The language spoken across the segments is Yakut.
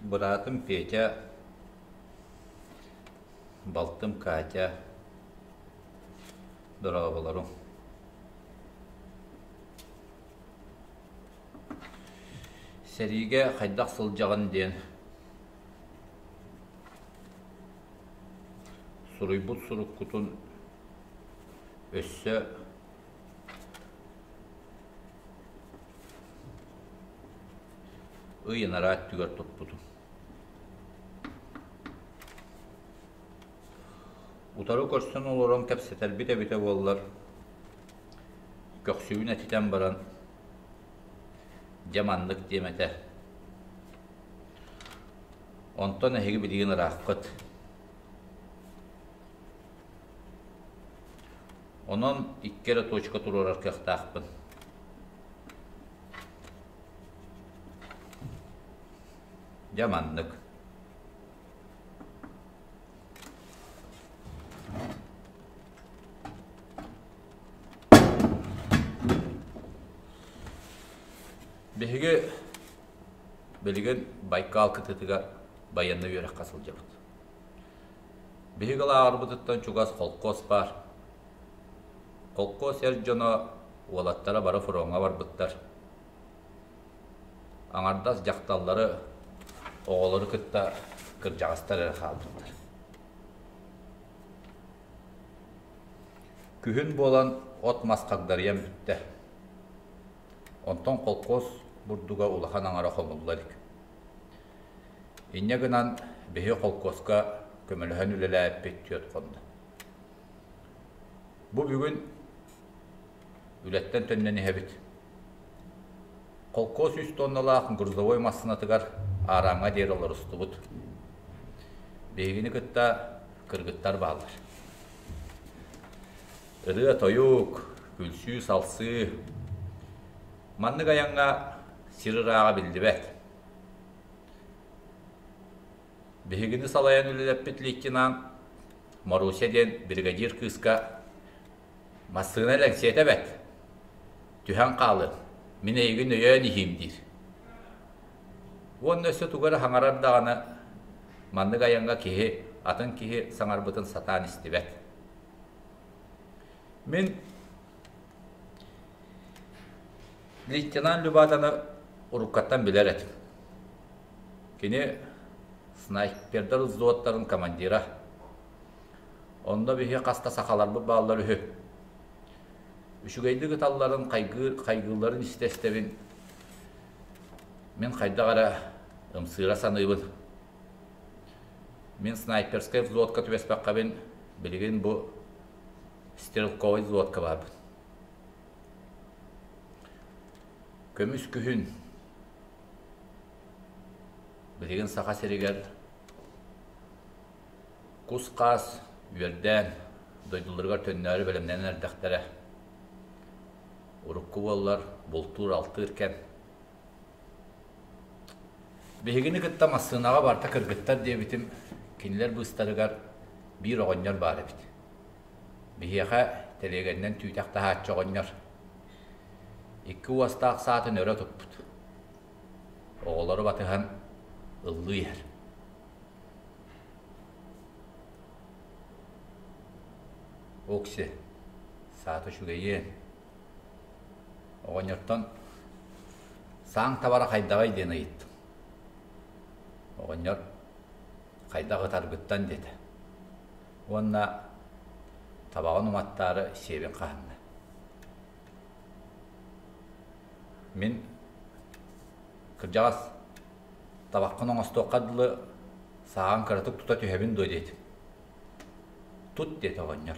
Быраатым Петя, балтым Катя, дорооболоруҥ. Сэриигэ хайдах сылдьаҕын диэн суруйбут суруккутун өссө ый анараа өттүгэр туппутум утары көрсөн олорон кэпсэтэрбит эбитэ буоллар көхсүбүн этитэн баран дьэ маннык диэм этэ онтон эһиги билигин ырааххыт Онон икки эрэ точка туруорар кыахтаахпын. Дьэ маннык. Биһиги билигин Байкал кытытыгар байыанна үөрэххэ сылдьабыт. Биһиги лааҕырбытыттан чугас холкуос баар. Холкуос эр дьоно, уолаттара бары фроҥҥа барбыттар. Аҥардас дьахталлары, оҕолору кытта кырдьаҕастар эрэ хаалбыттар. Күһүн буолан от мас хагдарыйан бүттэ. Онтон холкуос бурдуга улахан аҥара хомулла илик Инньэ гынан биһи холкуоска көмөлөһөн үлэлээппит түөрт хонно. Бу бүгүн үлэттэн төннөн иһэбит. Холкуос үс тонналаах грузовой массыынатыгар аарааҥҥа диэри олорустубут. Биһигини кытта кыргыттар бааллар. Ырыа-тойук, күлсүү-салсыы. Маннык айаҥҥа сир ырааҕа биллибэт. Биһигини салайан үлэлэппит лейтенант Маруся диэн бригадир кыыска массыына лэҥсиэтэ бэт. Түһэн хаалын, мин эйигин өйөөн иһиим диир. Уонна өссө тугар хаҥарар даҕаны маннык айаҥҥа киһи, атын киһи саҥарбытын сатаан истибэт. Мин Лейтенант Любатаны уруккаттан билэр этим. Кини снайпердар взводтарын командира. Онно биһи хаста сахаларбыт бааллар үһү. Үчүгэйдик ыталларын, хайгыылларын истэ-истэбин. Мин хайдах эрэ ымсыыра саныыбын. Мин снайперскай взводка түбэспэххэбин, билигин бу Стрелковой взводка барбын. Көмүс күһүн. Билигин Саха сиригэр кус-хаас үөрдээн дойдуларыгар төннөөрү бэлэмнэнэн эрдэхтэрэ. Урукку буоллар бултуур-алтыыр кэм. Биһигини кытта массыынаҕа барта кыргыттар диэбитим, кинилэр быыстарыгар биир оҕонньор баар эбит. Биһиэхэ тэлиэгэннэн түүтэх таһааччы оҕонньор. Икки уостаах саатын өрө туппут. Оҕолору батыһан ыллыы иһэр. Окси, саата үчүгэйиэн. Оҕонньортон сааҥ табара хайдаҕый диэн ыйыттым. Оҕонньор хайдах ытаргыттан диэтэ. Уонна табаҕын уматтаары сиэбин хаһынна. Мин кырдьаҕас табаккын оҥостуохха дылы сааҕын кыратык тута түһэбин дуо диэтим. Тут диэтэ оҕонньор.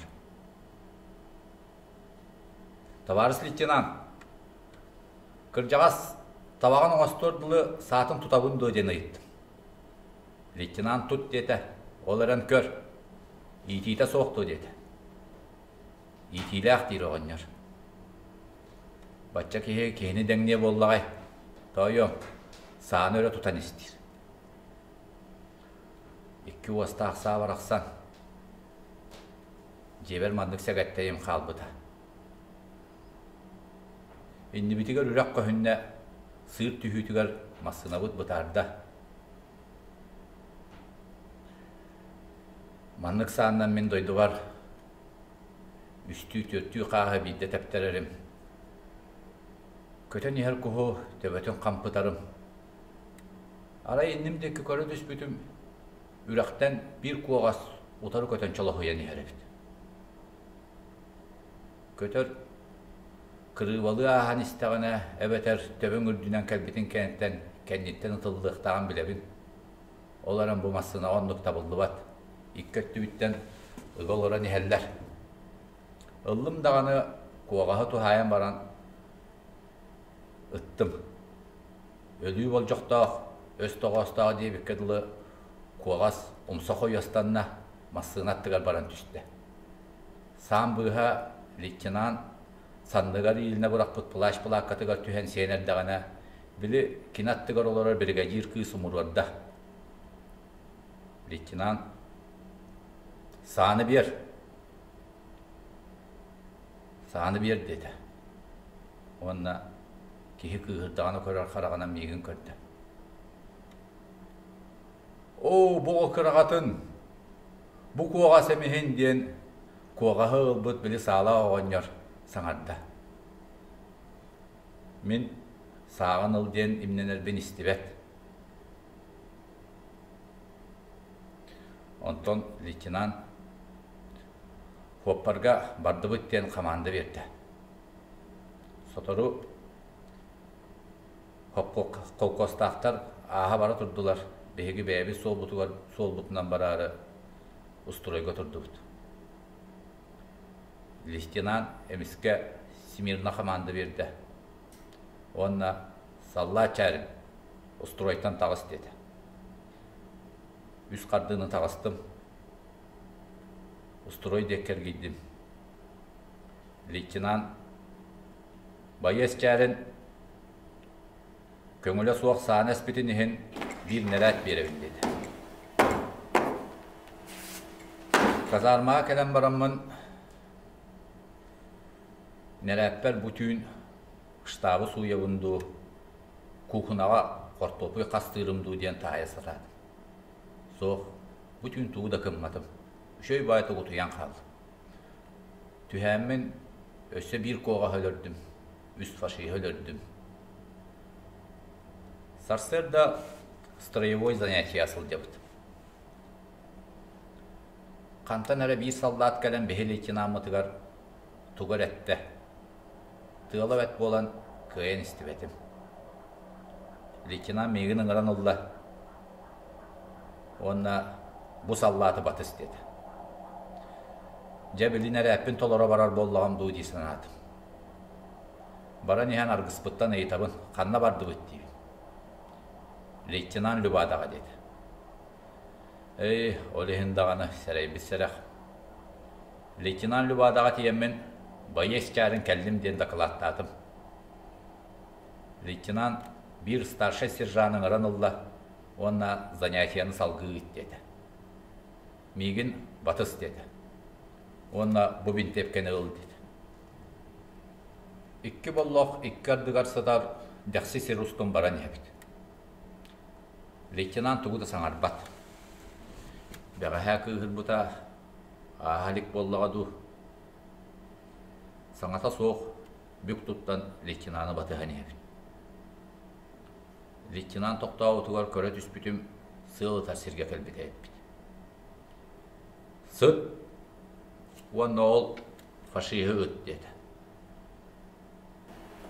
Табаарыс лейтенант, кырдьаҕас, табаҕын оҥостор дылы саатын тутабын дуо диэн ыйыттым. Лейтенант тут диэтэ, ол эрэн көр, иитиитэ суох дуо диэтэ. Иитиилээх диир оҕонньор. Бачча киһи киһини дэҥниэ буоллаҕай, тоойуом, сааны өрө тутан истиир. Икки уостаах саа барахсан, дьиэбэр маннык сэгэттэйим хаалбыта. Иннибитигэр үрэх көһүннэ, сыыр түһүүтүгэр массыынабыт бытаарда. Маннык сааннан мин дойдубар үстүү-түөртүү хааһы биирдэ тэптэрэрим. Көтөн иһэр куһу төбөтүн хампытарым, Арай инним диэки көрө түспүтүм, үрэхтэн биир куоҕас утары көтөн чолоһуйан иһэр эбит. Көтөр, кырыыбалыы ааһан истэҕинэ, эбэтэр төбөҥ үрдүнэн кэлбитин кэнниттэн кэнниттэн ытыллыахтааҕын билэбин. Ол эрэн бу массыынаҕа оннук табыллыбат, икки өттүбүттэн ыга олорон иһэллэр. Ыллым даҕаны, куоҕаһы туһаайан баран, Ыттым. Өлүү болдьохтоох, өс тоҕоостоох диэбиккэ дылы, куоҕас умса хойуостанна, массыына аттыгар баран түстэ. Саам быыһа лейтенант санныгар иилинэ бырахпыт плащ плааккатыгар түһэн сиэн эрдэҕинэ, били кини аттыгар олорор биригэдьиир кыыс умуруорда. Лейтенант «Сааны биэр!» сааны биэр диэтэ уонна киһи кыыһырдаҕына көрөр хараҕынан миигин көрдө оо бу кыраҕатын бу куоҕас эмиһин диэн куоҕаһы ылбыт били саала оҕонньор саҥарда мин сааҕын ыл диэн имнэнэрбин истибэт онтон лейтенант Куоппарга бардыбыт диэн хамаанда биэрдэ. Сотору холкуостаахтар ааһа бара турдулар. Биһиги бэйэбит суолбутугар суолбутунан бараары устройга турдубут. Листинан эмискэ всемирна хамаанда биэрдэ. Уонна саллаат чээрин устуруойтан таҕыс диэтэ. Үс хардыыны таҕыстым. Устрой диэк кэргийдим. Лейтенант байы эсчээрин көҥүлэ суох сааны эспитин иһин биир нэрээт биэрэбин диэтэ. Казармаҕа кэлэн бараммын нэрээппэр бу түүн штабы сууйабын дуу, куукунаҕа хортуоппуй хастыырым дуу диэн таһайа сатаатым. Суох, бу түүн тугу да гымматым, үчүгэй баай тугутуйан хааллым. Түһээммин өссө биир куоҕаһа өлөрдүм, үс фашиһа өлөрдүм. Сарсыарда строевой занятия сылдьабыт. Хантан эрэ биир саллаат кэлэн биһи лейтенаммытыгар тугу эрэ эттэ, Тыала бэт буолан, кыайан истибэтим. Лейтенант миигин ыҥыран ылла уонна бу саллааты батыс диэтэ. Дьэ, билин эрээппин толоро барар буоллаҕым дуу дии санаатым. Баран иһэн аргыспыттан ыйытабын, ханна бардыбыт диибин. Лейтенант Любадаҕа диэтэ. Эй, ол иһин даҕаны сэрэйбит сэрэх. Лейтенант Любадаҕа тиийэммин, байыас чаарын кэллим диэн дакылааттаатым. Лейтенант биир старшай сержант ыҥыран ылла уонна занятияны салгыы ыыт диэтэ. Миигин батыс диэтэ уонна бу бинтиэпкэни ыл диэтэ. Икки боллох икки ардыгар сытар дэхси сир устун баран иһэбит. Лейтенант тугу да саҥарбат. Бэҕэһээ кыыһырбыта Ааһа илик буоллаҕа дуу, саҥата суох бүк туттан лейтенаны батыһан иһэбин. Лейтенант тохтообутугар көрө түспүтүм, сыал ытар сиргэ кэлбитэ эппит. Сыт уонна ол фашиһы ыт диэтэ.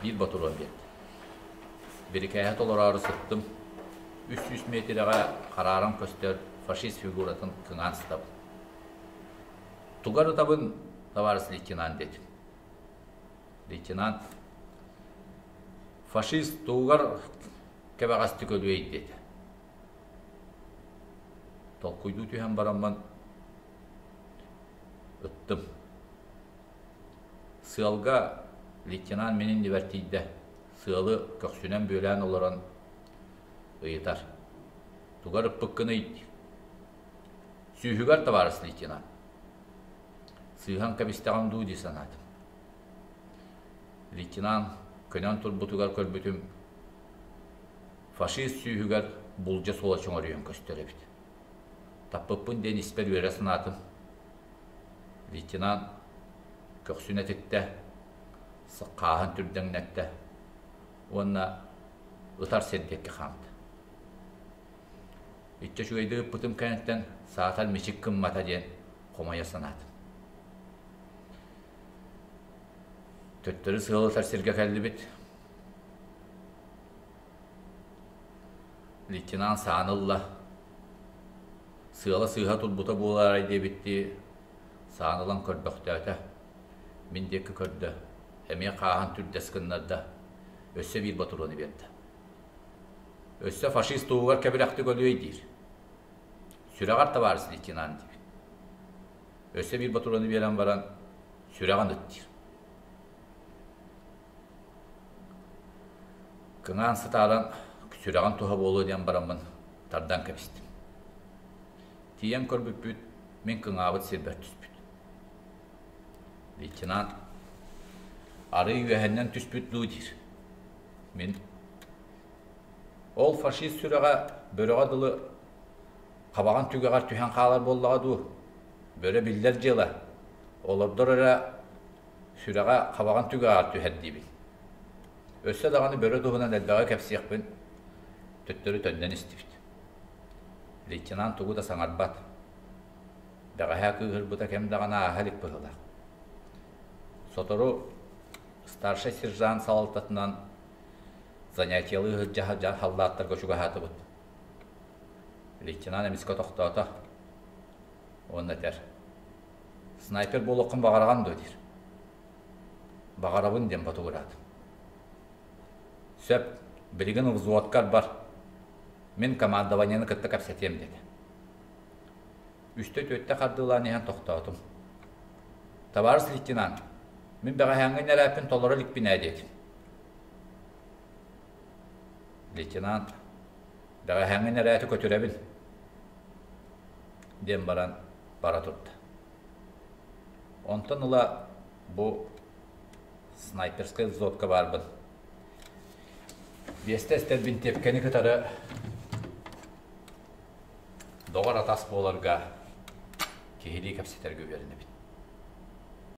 Биир ботуруон диэн. Бирикээһи толороору сыттым. Үс сүүс миэтирэҕэ харааран көстөр фашист фигуратын кыҥаан сытабын. Тугар ытабын, товарищ лейтенант диэтим. Лейтенант, фашист тугугар кэбэҕэстик өлүөй диэтэ. Толкуйдуу түһэн бараммын, ыттым. Сыалга лейтенант минин ибэртийдэ, сыалы көхсүнэн бүөлээн олорон ыйытар. Тугар ыппыккыный? Сүүһүгэр табаарыс лейтенант. Сыыһан кэбистэҕим дуу дии санаатым. Лейтенант көнөн турбутугар көрбүтүм, фашист сүүһүгэр булдьа суола чөҥөрүйэн көстөр эбит. Таппыппын диэн испэр үөрэ санаатым. Лейтенант көхсүн этиттэ, хааһын түрдэҥнэттэ уонна ытар сир диэки хаамта. Иччэ үчүгэйдик ыппытым кэнниттэн саатар мичик гыммата диэн хомойо санаатым. Төттөрү сыалытар сиргэ кэллибит. лейтенант сааны ылла сыала-сыыһа турбута буолаарай диэбиттии сааны ылан көрбөхтөөтө мин диэки көрдө эмиэ хааһан түрдэс гыннарда өссө биир ботуруону биэрдэ өссө фашист туһугар кэбирэхтик өлүөй диир сүрэҕэр табаарыс лейтенант диир өссө биир ботуруону биэрэн баран сүрэҕин ыт диир Кыҥаан сытаалан сүрэҕим туһа буолуо диэн бараммын тардан кэбистим. Тиийэн көрбүппүт, мин кыҥаабыт сирбэр түспүт. Лейтенант арыый үөһэннэн түспүт дуу диир. Мин ол фашист сүрэҕэ бөрөҕө дылы хабаҕын түгэҕэр түһэн хаалар буоллаҕа дуу, бөрө биллэр дьыала, олордор эрэ сүрэҕэ хабаҕын түгэҕэр түһэр диибин. Өссө даҕаны бөрө туһунан элбэҕи кэпсиэхпин төттөрү төннөн истибит. Лейтенант тугу да саҥарбат. Бэҕэһээ кыыһырбыта кэм даҕаны ааһа илик быһыылаах. Сотору старшай сержант салалтатынан занятиялыы сылдьар халлааттарга чугаһаатыбыт. Лейтенант эмискэ тохтоото. Уонна этэр, снайпер буолуоххун баҕараҕын дуо диир баҕарабын диэн ботугураат сөп билигин взводкар бар мин командованиены кытта кэпсэтиэм диэтэ үстэ түөртэ хардыылаан иһэн тохтоотум табаарыс лейтенант мин бэҕэһээҥҥи нэрээппин толоро иликпин ээ диэтим лейтенант бэҕэһээҥҥи нэрээти көтүрэбин диэн баран бара турда. Онтон ыла бу снайперскай взводка баарбын. Биэстэ эстэрбин тепкэни кытары доҕор атас буоларга киһилии кэпсэтэргэ үөрэнэбин.